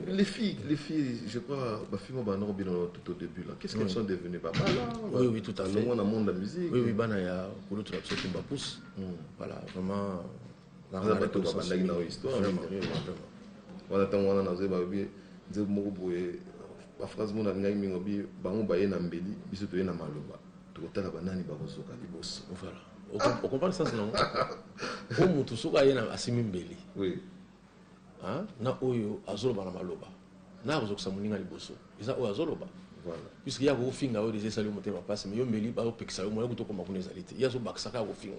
les filles les filles je crois bafille moko banoko bino tout au début là qu'est ce qu'elles mm. sont devenues babala oui oui tout à fait longo na monde la musique oui oui bana ya kulutu na biso tumba pousse mm. voilà vraiment Eza batu ba bandaki na yo histoire mysterieux vraiment. Wana tango wana nazo yeba bie nzembo moko boye ba phrase mona lingaki mingi obi bango baye na mbeli biso toye na maloba tokotala banani bakozoka liboso. Voilà. Ah. Au comprendre sens nango. Oyo mutu soki aye na asimi mbeli. Oui. Hein? Na oyo azoloba na maloba. Na akozokisa moninga liboso. Eza oyo azoloba. Voilà. Puisque ya kofinga oyo des esali motema pasi mais yo mbeli ba opekisa yo moyo kutokoma kuna ezali te. Ya zo bakisaka ya kofinga.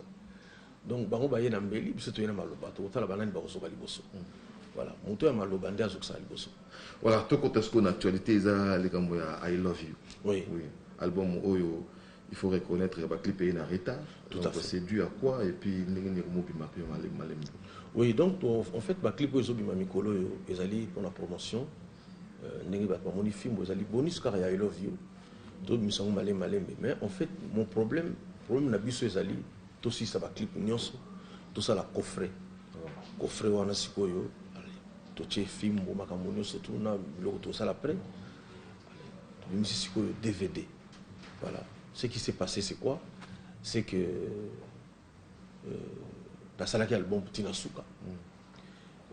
Donc bango baye na mbeli biso toye na maloba tokotala banani bakozoka liboso voilà moto ya maloba nde azokisaka liboso voilà tokota sikoyo na actualité eza likambo ya i love you oui. Oui. album oyo il faut reconnaître ya baclip eye na retard Tout à fait. c'est dû à quoi et puis ndenge nini ekomobima mpe malembe malembe oui donc to- en fait baclip oyo ezobima mikolo oyo ezali mpona promotion Euh, ndenge bato bamoni fimbo ezali bonus kaka ya i love you tobimisa yango malembe malembe mais en fait mon problème problème na biso ezali Tosilisa ba clip nionso tosala coffret coffret wana sikoyo totie fimbu makambo nionso tout na biloko tosala pret tobimisi sikoyo dvd voilà ce qui s'est passe c'est quoi c'est que euh, nasalaki album ti na suka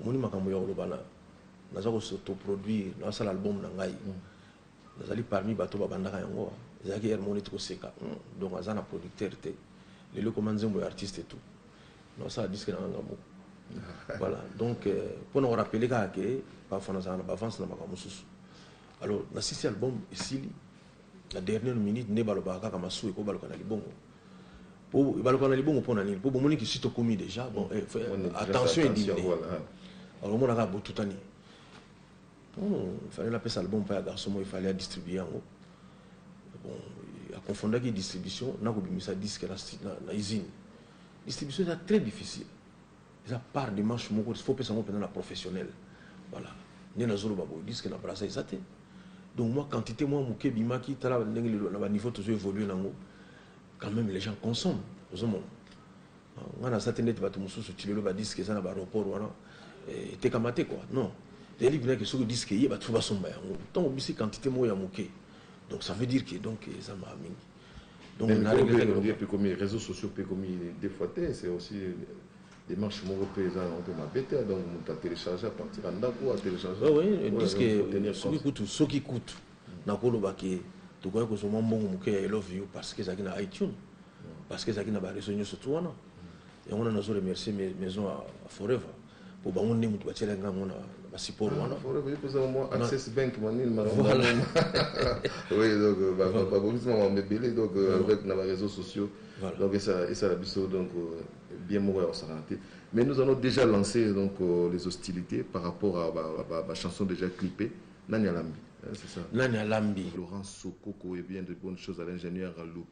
omoni makambo ya koloba na naza kosotoproduire nasala album na ngai mm. Nazali parmi bato babandaka yango ezalaki heure moko neti koseka hum donc aza na producteur te lelo ekoma nzembo ya artiste tout nasala disque nanga nga moko voilà donc pona ko rappeler kaka ke parfois nazalaka na bavance na makambo mosusu alors na sisi album esili na dernière minute nde balobaka kaka masuwa ekobaluka na libongo po ebaluka na libongo mpo na nini mpo bomoni kisi tokomi déjà bon eh, attention edimine alors omonaka botutani Hum, il fallait napesa album pa ya garçon moko il fallait a distribuer yango. Bon, a confondaki distribution na kobimisa disque na, na, na usine. Distribution eza très difficile. Eza part de manche moko, il faut pesa yango mpenza na professionnel. Voilà. Nde nazoloba boye, disque na brasa eza te. Donc moi quantité moi moke bimaki tala ndenge lelo na ba niveau tozo évoluer nango. Quand même les gens consomment. Ozomona. Nga na sate ndeti batu mususu tilelo ba disque eza na ba aeroport wana etekama te quoi non ezali bina ke soki disque eye batu fo basomba yango tango obisi quantite moko ya muke donc ça veut dire que donc eza ma mingi donc na regretter que comme réseaux sociaux pe comme des fois te c'est aussi démarche moko pe eza na mpe mabe te donc mutu a télécharger à partir ya ndako a télécharger oui oui disque soki kutu soki kutu nakoloba ke tokoki kozwa mwa mbongo moke ya elove yo parce que ezalaki na iTunes Parce que ezalaki na ba raisons nionso tout wana. Yango wana nazo remercier maison ya Forever po bango nde mutu batielaki nga yango na ba support wana. Forever ipo ezanga mwa access bank mwa nini mwa voilà. oui donc euh, ba ba ba bongisi mwa mebele donc euh, avec na ba réseaux sociaux. Voilà. Donc esa esa la biso donc euh, bien moko ya kosakana te. Mais nous allons déjà lancer donc les hostilités par rapport à ba ba, ba chanson déjà clippée nani alambi. Hein, c'est ça. Nani alambi. Laurent Sokoko et bien de bonnes choses à l'ingénieur Loup.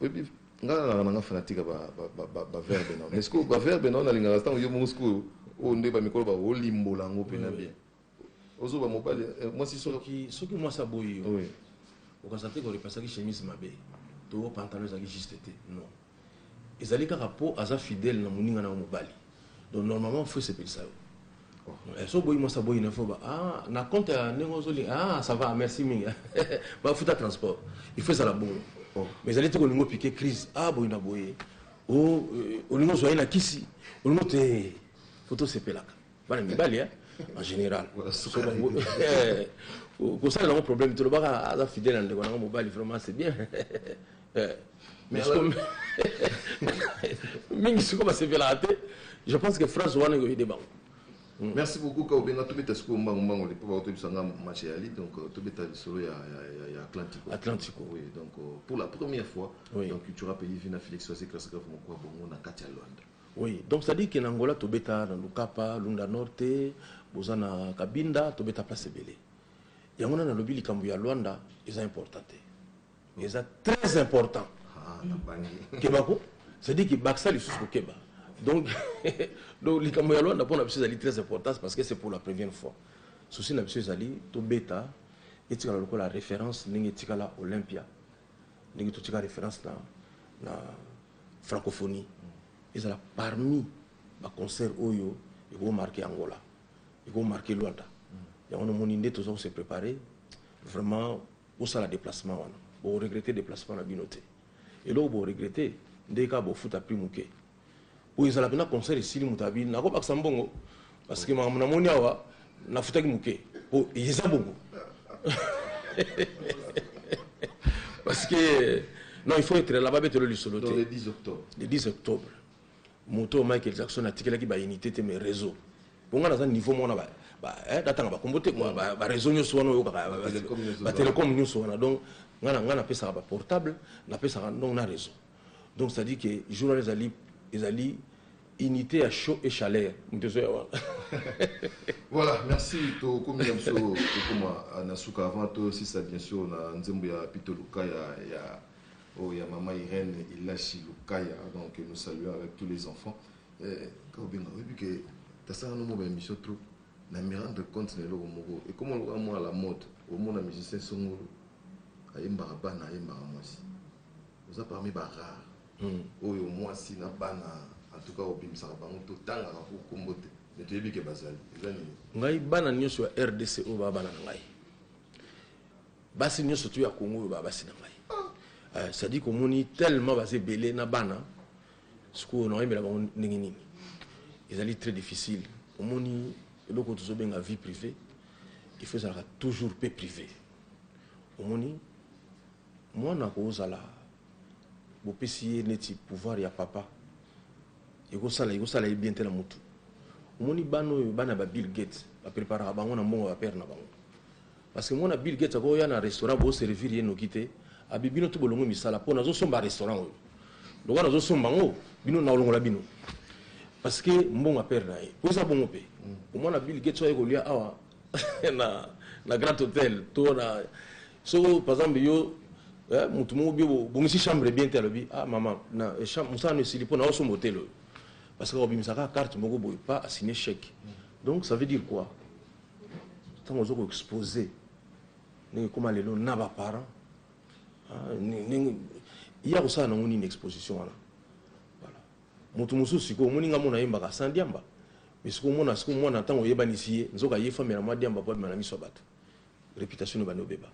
oyebi nga nalaka nanga fanatique ya baverbe nao mais sikoyo baverbe nao nalingaka ntango yo moko sikoyo oyo nde bamikolo ba olimbola yango mpena bien ozoba mobali eh, mwasi soki mwasi aboyi yo okanisa te korepasaki chemise mabe to pantalon ezalaki juste te non ezali kaka mpo aza fidèle na moninga na yo mobali donc normalement fo esepelisa yo Eh, so boyi mwasi aboyi na fo ba ah, na compte ya ndenge ozoli ah, ça va merci mingi bafuta transport il faut ezala bongo oh. mais ezali te kolingo piquer crise ah boyi na boye o oh, euh, olingo ozwa ye na kisi olingo te eh, fo tosepelaka bana mibali eh, en général kosalela yango problème te olobaka aza fidèle na ndeko na yango mobali vraiment c'est bien eh, mingi siko basepelaka te je pense que france wana ekoyede bango hmm. merci beaucoup kaobenga tobeta sikoyo mbango mbango lipo bakotoyebisa nga match ya ligue donc euh, tobeta lisolo ya, ya, ya, ya atlantico atlantico oui donc euh, pour la première fois oui. donc cultura pays vina félix wase classe grave moko ya bongo na kati ya luanda oui donc ça dit que na angola tobeta na lukapa lunda norte boza na kabinda tobeta place ebele yango na nalobi likambo ya luanda eza important te mais eza très important ah, keba ko c'est-à-dire que bakisa lisusu kokeba donc donc likambo ya lwanda mpo na biso ezali très importance parce que c'est pour la première fois souci na biso ezali tobeta etikala lokola référence ndenge etikala olympia ndenge totika référence na, na francophonie ezala parmi baconcert oyo ekomarke angola ekomarke luanda yango nomoni nde toza kose prépare vraiment Bosala deplacement wana boko regrette deplacement na bino te eloko bo regrette nde kaka bofuta prix muke oyo ezala pena concert esili moto abi nakobakisa mbongo parce que makambo namoni awa nafutaki moke po eza bongo parce que non il faut être là babetelo lisolo te le 10 octobre Moto oyo Michael Jackson atikelaki ba unite te mais reseau. Mpo nga naza niveau moko na ba ba eh natanga ba kombo te quoi mm. ba, ba reseau nyoso wana oyokaka ba telecom nyoso wana donc nga na nga napesaka ba portable napesaka donc na reseau. Donc ça dit que journal ezali ezali unité ya chaud et chaleur moto ezoya wana voilà merci tokomi na biso tokoma na suka avant tosisa bien sûr na nzembo ya pito luka ya, ya Oyo ya maman Irène Elashi Lukaya donc nous saluons avec tous les enfants. Eh, Kaobenga, oyebi que tasala no ba émission trop na me rendre compte na eloko moko ekoma lokola mwa la mode omona musicien songolo ayembaka bana ayembaka mwasi oza parmi ba rare hmm. oyo mwasi na bana en tout cas obimisaka bango totangaka po kombo te me toyebi ke bazali eza nini ngai bana nyonso ya rdc oyo babana na ngai Basi nioso tu ya Congo oyo ba basi na ngai. Eh, Sadik omoni tellement baza ebele na bana sikoyo na oyembela bango ndenge nini? Ezali très difficile. Omoni eloko tozobenga vie privée il faut ezalaka toujours pe privé. Omoni mwana akozala bopesi ye neti pouvoir ya papa ekosala ekosala ye bien te na mutu. Omoni bana oyo bana ba Bill Gates ba preparaka bango na mbongo ya ba père na bango. Parce que mwana Bill Gates ako ya na restaurant bo servir ye noki te. Abi bino tout bolongwe misala po nazo somba restaurant oyo. Lokola nazo somba ngo bino na olongola bino. Parce que mbongo a perdre na ye. Po eza bongo pe. Mm. Mwana Bill Gates oyo kolia awa na na Grand Hotel to na so par exemple yo eh, mutu moko bio bongisi chambre bien te alobi ah mama na eh, chambre musala no esili po na osomba hotel oyo. Parce que obimisa ka carte moko boye pas assigner chèque. Mm. Donc ça veut dire quoi? ntango oza ko expose ndenge ekoma lelo na ba parent ah, ndenge ya kosala nango nini exposition wana voilà moto mosusu sikoyo omoni nga mona yembaka sans diamba mais sikoyo omona sikoyo mwana ntango oyebanisi ye nzoka ye famela mwa diamba mpo abima na miso ya bato réputation ebandi obeba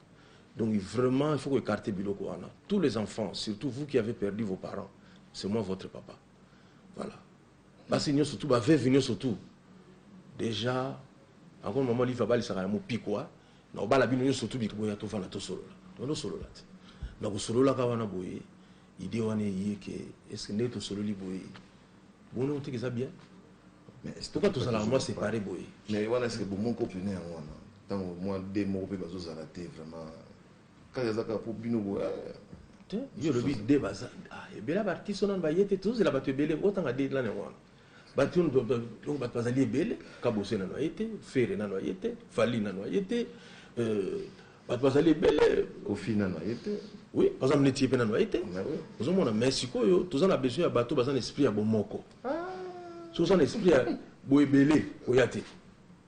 donc vraiment il faut ko écarter biloko wana tous les enfants surtout vous qui avez perdu vos parents c'est moi votre papa voilà Basi nioso tout ba veuve nioso tout dejà encore maman olive abalisaka na mopikwa na obala bino nioso tout bikoboya tovanda tosolola tovanda osolola te na kosololaka wana boye idee wana eye ke eske ndenge tosololi boye bono oteki eza bien pourquoi tozalaka mwa séparé boye mais wana eske bomoko pene yango wana ntango mwa de moko mpe bazozala te vraiment Kaka eza kaka po bino bo eh. Te, yo lobi de baza ah, ebele ba artiste wana ba yete tozela bato ebele otanga de lana wana. Bato ndo donc bato bazali ebele kabose nano ayete, fere nano ayete, fali nano ayete. Euh, bato bazali ebele kofi nano ayete. Oui, par exemple neti ye pe nano ayete. Ah, Ozomona mais sikoyo toza na besoin ya bato baza na esprit ya bomoko. Ah. So oza na esprit ya boebele oya te.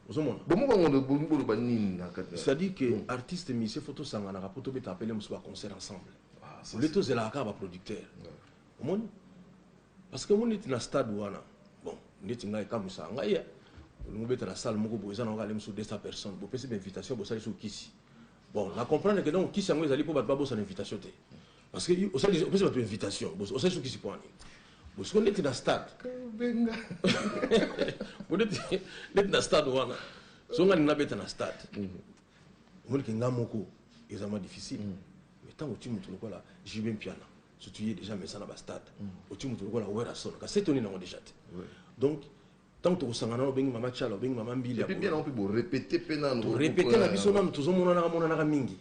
ozomona bomobangano bolingi boloba nini na kati c'est-à-dire que mm. artiste musicien faut tosanganaka mpo tobeta apele mosusu baconcert ensemble ah, ole tozelaka kaka baproducteur omoni parce que omoni neti na stade wana bon ndeti ngai ekamwisaka ngai olingi obeta na salle moko boye eza na okale mosusu 200 personnes bopesi bainvitation bosalisi okisi Bon na comprendre que donc kisi yango ezali mpo bato babosana invitation te parce que osali opesi bato invitation osali so kisi mpo ani bosiko ndeti na stade benga bo ndeti ndeti na stade wana so nga nina beta na stade omoni ke nga moko eza mwa difficile mais ntango oti moto lokola jb mpiana surtout ye déjà mesa na bastade oti moto lokola werrason kasi etoni nango déjà te donc Tango toko sangana wana obengi mama tshala obengi mama mbilia bolole. Et puis bien nango pe bo repeter pe nanu. To repeter na biso nanu tozo monanaka monanaka mingi.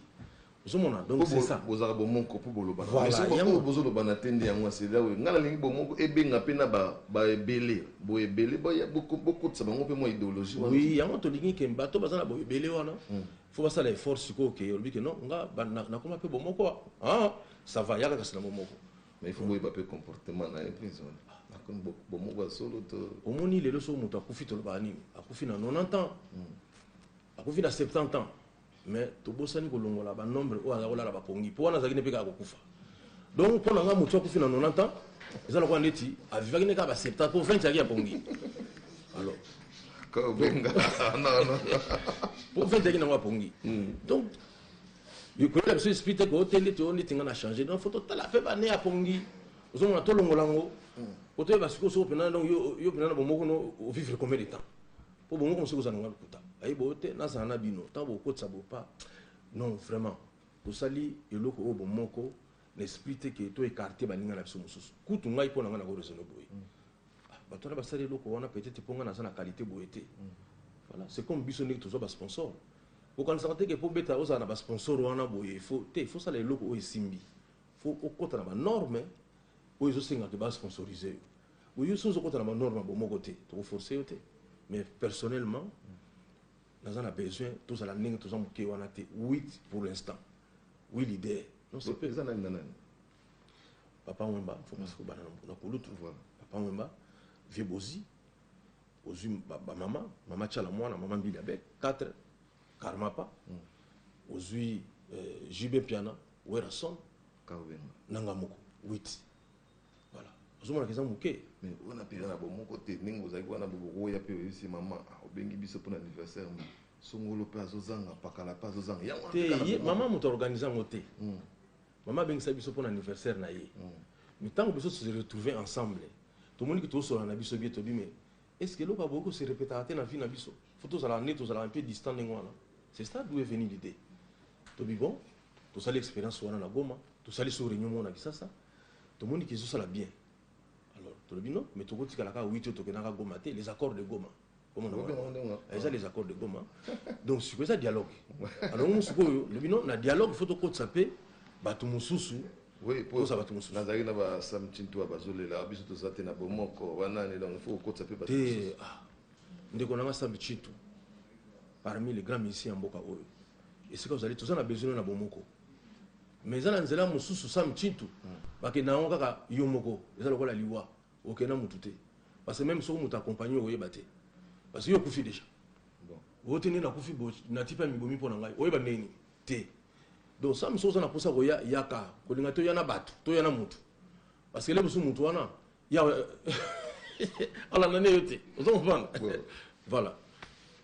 Ozo mona donc c'est ça. Bozalaka bomoko po bolobana. Voilà. Mais soki oyo bozo lobana te nde yango ya sila oyo. Nga nalingi bomoko ebenga pe na ba ebele. Bo ebele bo kotisa bango pe mua ideologie wana. Oui yango tolingi ke bato oyo baza na bo ebele wana faut basala effort sikoyo ke olobi ke non nga nakoma pe bomoko ah ça va yaka kasi na bomoko. Mais il faut boyeba pe comportement na ye prison. Akomi bomoko ya solo to. Omoni lelo soki moto akufi tolobaka nini? Akufi na 90 ans. Hmm. Akufi na 70 ans. Mais tobosani kolongola ba nombre oyo aza kolala bakongi. Po wana azaki ne pe kaka kokufa. Donc pona nga moto akufi na 90 ans, eza lokola ndeti avivaki ne kaka ba 70 po 20 yaki ya pongi. Alors kobenga non non. Po 20 yaki na wa pongi. Hmm. Donc likolo na biso esprit te ko oteli to neti nga na changer donc faut totala pe bane ya pongi ozomona tolongola yango hmm. otoyeba sikoyo soko mpena donc yo mpena na bomoko no ovivre combien de temps mpo bomoko mosuku ozala nanga lokuta ayebi oyo te nazala na bino ntango bokotisa bopa non vraiment tosali eloko oyo bomoko na esprit te ke to écarte baninga na biso mosusu kutu ngai mpo na ngai nako raisonne boye hmm. ah, bato wana basali eloko wana peut-être mpo ngai naza na qualité boye te hmm. voilà c'est comme biso ndenge tozwa basponsor Okanisaka te ke po obeta ozala na ba sponsor wana boye il faut te il faut osala eloko oyo esimbi il faut okota na ba norme oyo ezo senga ke ba sponsoriser yo boye yo soki ozo kota na ba norme ya bomoko te toko forcer yo te mais personnellement naza na besoin tozala ndenge toza moke wana te wit pour l'instant wi leader non c'est pe eza nani na nani papa wemba faut masiko bana na kulutu papa wemba vieux bozi Ozui ba maman, maman Tshala Muana, maman Mbili Abe, 4, Karmapa, ozui JB Mpiana, Werrason, nanga moko, 8. Voilà. Ozomona keza muke. Mais wana pena na bomoko te, ndenge ozalaki wana bokoya pe oyebisi maman, ah obengi biso pona anniversaire mais songolo pe azozanga, pakala pe azozanga. Yango wana pe kaka na bomoko. Te, ye maman mutu a organiser yango te. Maman abengisa biso pona anniversaire na ye. Mais tango biso to se retrouver ensemble, tomoni que tozo solola na biso bien, tolobi mais est ce que eloko aboki ko se repetaka te na vie na biso? Faut tozalaka nde tozalaka un peu distant ndenge wana. C'est ça d'où est venu l'idee. Tolobi bon, tosali experience wana na Goma, tosali sur reunion moko na Kisasa, tomoni que ezosala bien. Alors tolobi non, mais tokotikala kaka Witi oyo tokendaka Goma te, les accords de Goma. eza les accords de goma donc siko eza dialogue alors ngo sikoyo lobi no na dialogue faut tokotisa mpe bato mosusu oza bato mosusu nazalaki na basamtintu ya bazolela biso toza te na bomoko wanani donc faut kokotisa mpe bato mosusu ah. ndeko nanga sambi chitu parmi les grands musiciens ya mboka oyo esika ozali toza na besoin na bomoko mais eza na nzela mosusu sambi chitu hmm. bakenda yango kaka yo moko eza lokola liwa Oke na mutu te parce que meme soki mutu accompagne oyeba te parce que yo okufi deja oyo te nde nakufi bo nati pe amibomi mpo na ngai oyeba ndenge nini te donc sami soki oza na mposa koya yaka kolinga toya na bato toya na mutu parce que lelo mosusu mutu wana ya alanda nde yo te ozo comprendre voilà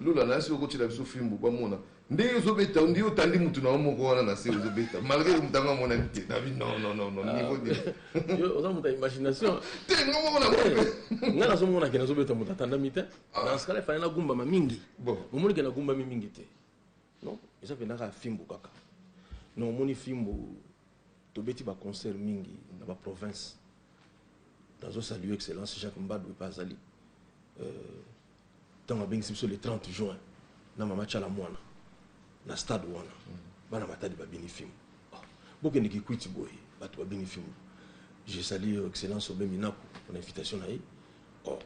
Lola nayasi yo kotiela biso fimbu bamona ndenge ozo beta on dirait otandi mutu na yo moko wana na se ozo beta malgre que mutu yango amonani te na bi non non non non niveau de yo oza mutu ya imagination te nga moko na bope nga nazo mona ke nazo beta mutu atandami te na skala fana na gumbama mingi bon omoni ke na gumbami mingi te non eza penda ka fimbu kaka non omoni fimbu tobeti ba concert mingi na ba province nazo saluer excellence Jacques Mbadou epa azali euh, Tango abengisi biso le 30 juin na mama Tshala Muana na stade wana, bana Matadi babini fimbu. Oh, bokende Kikwiti boye, batu babini fimbu. Je salue Excellence Aubin Minaku pona invitation na ye. Oh,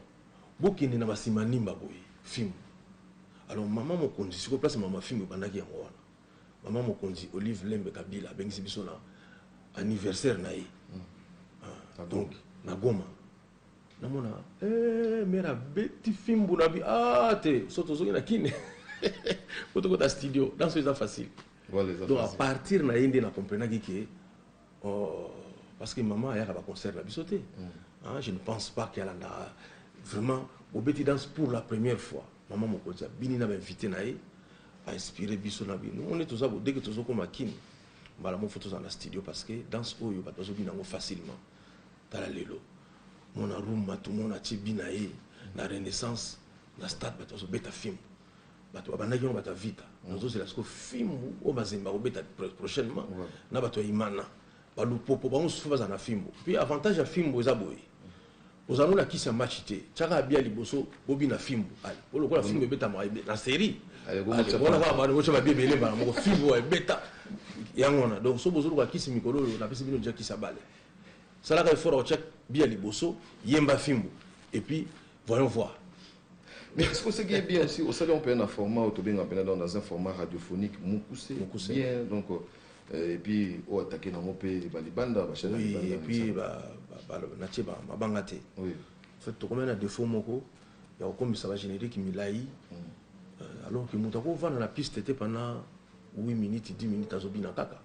bokende na ba Simanimba boye, fimbu. Alors mama mokonzi, sikoyo place mama fimbu ebandaki yango wana. Mama mokonzi Olive Lembe Kabila abengisi biso na anniversaire na ye. Donc na Goma. namona eh, mera beti fimbu na bi ah te so tozongi na kine po tokota studio danso eza facile donc à partir na ye nde na comprenaki ke oh, parce que maman ayaka baconcert na biso te mm. ah, je ne pense pas ke alandaka vraiment obeti danse pour la première fois maman mokonzi abini na bainvité na ye ainspire biso na bino one toza bodeke tozokoma kini mbala moko fo tozala na studio parce que danse oyo bato bazobina yango facilement Tala lelo mona rumba tout monde atie bi na ye na renaissance na stade bato bazo beta fimbu bato babandaki yango bato ya vita nazozela siko fimbu oyo mazembe akobeta prochainement na bato ya imana balupopo bango mosusu bazala na fimbu puis avantage ya fimbu eza boye ozala ngo na kisi ya match te tiaka abia liboso bobina fimbu ale po lokola fimbu ebetamaka na série wana kaka bana botia babia ebele mbala moko fimbu ebeta yango wana donc so bozoluka kisi mikolo oyo napesi bino deja kisi ya bale Salaka effort ya kotia bi ya liboso, yemba fimbu et puis voyons voir. Mais est-ce que oseki ye bien aussi osali yango mpena na format oyo tobenga mpena donc dans un format radiophonique mokuse Mokuse. bien donc euh, et puis oyo atake nango mpe balibanda bachane Oui, balibanda et puis misala. ba, ba, ba, natie ba mabanga te. Oui. En fait, tokomaki na défaut moko ya kokomisa ba générique milayi euh, alors que moto akovanda na piste te pendant 8 minutes 10 minutes azobina kaka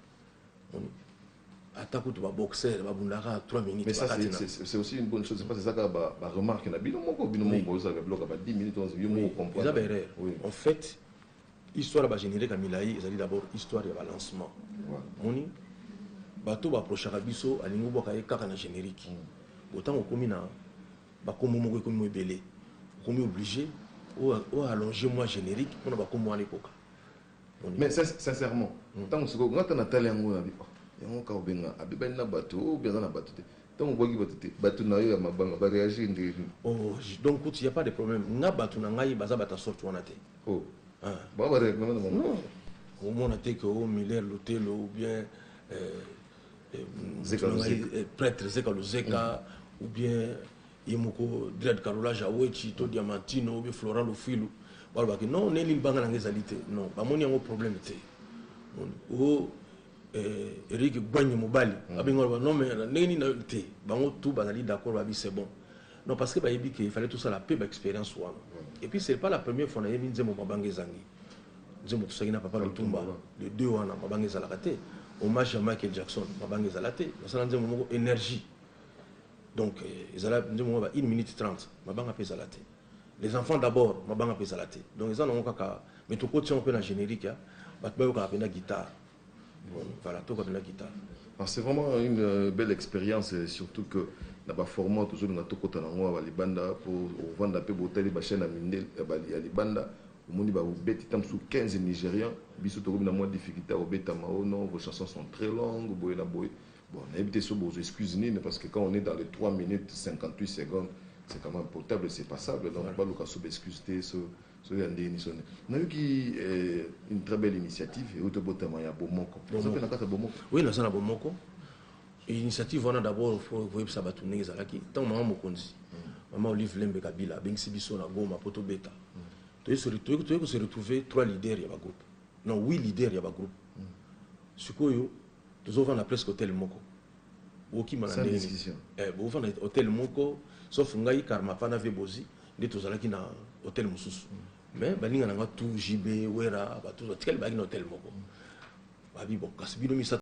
ata kutu ba boxeur babundaka 3 minutes mais ça c'est aussi une bonne chose parce que ezaka ba ba remarque na bino moko bino moko boza ba bloka ba 10 minutes on yo moko comprendre eza ba erreur en fait histoire ba générique ya milayi ezali d'abord histoire ya ba lancement moni bato ba approchaka biso alingi obwaka ye kaka na générique mm. otango okomi na bakombo moko ekomi mo ebele okomi oblige o allonge moi générique mpona bakombo wana ekoka Mais sincèrement tango sikoyo nga ata na tali yango na bi oh yango kaka obenga abebani na batu ou bien aza na batu te tango obwaki batu te batu na yo ya mabanga ba reagir ndenge nini? Oh donc kutu y'a pas de problème nga batu na ngai baza batu ya sorte wana te oh hein bango ba reagir na bango non omona te que oh Muller Lutelo ou bien euh, euh, Zeka Luzeka. eh, prêtre Zeka Luzeka ou bien ye moko dread carrelage ya wetshi to diamantino obe florent lufuilu balobaki non neli libanga na nga ezali te non bamoni yango problème te o eh, eric gwanyi mobali mm. abengi baloba non mais ndenge nini nayoki te bango tout bazali d'accord babi c'est bon non parce que bayebi ke fallait tosala mpe baexpérience wana mm. et puis c'est pas la première fois nayebi nzembo mabanga ezangi nzembo tosaki na papa lutumba le deux wana mabanga ezalaka te hommage ya michael jackson mabanga ezala te nasala nzembo moko énergie Donc ezala nde mwa ba 1 minute 30 mabanga mpe ezala te. Les enfants d'abord mabanga mpe ezala te. Donc eza nango kaka mais tokotia yango mpe na generique ya bato bayokaka mpenza guitare. Bon, voilà, toyoka mpenza guitare. Ah, c'est vraiment une euh, belle expérience et surtout que na ba format tozolinga tokota nango awa libanda mpo ovanda mpe botali bachaine ya mindele ya libanda omoni babeti ta mosusu 15 nigérian biso tokomi na mwa difficulté ya kobetama o oh non vos chansons sont très longues boye na boye Bon nayebi te soki bokozwa excuse nini parce que quand on est dans les 3 minutes 58 secondes c'est quand même potable c'est passable donc baluka so ba excuse te so so ya ndenge nini so nini. Nayoki eh, une très belle initiative euti obotama ya bomoko oza mpe na kati ya bomoko Oui, naza na bomoko. Initiative wana d'abord faut koyebisa bato ndenge ezalaki. Ntango mama mokonzi, mama Olive Lembe Kabila abengisi biso na Goma mpo tobeta. Toye se re- toye toye ko se retrouver trois leaders ya ba groupe. Non, huit leaders ya ba groupe. Sikoyo tozo vanda presque hotel moko bokima na ndenge nini eh bovanda hotel moko sauf ngai karmapa na vie bozi nde tozalaki na hotel mosusu mm. mais baninga na nga tout jb wera bato batikali bayaki na hotel moko babi bon kasi bino misato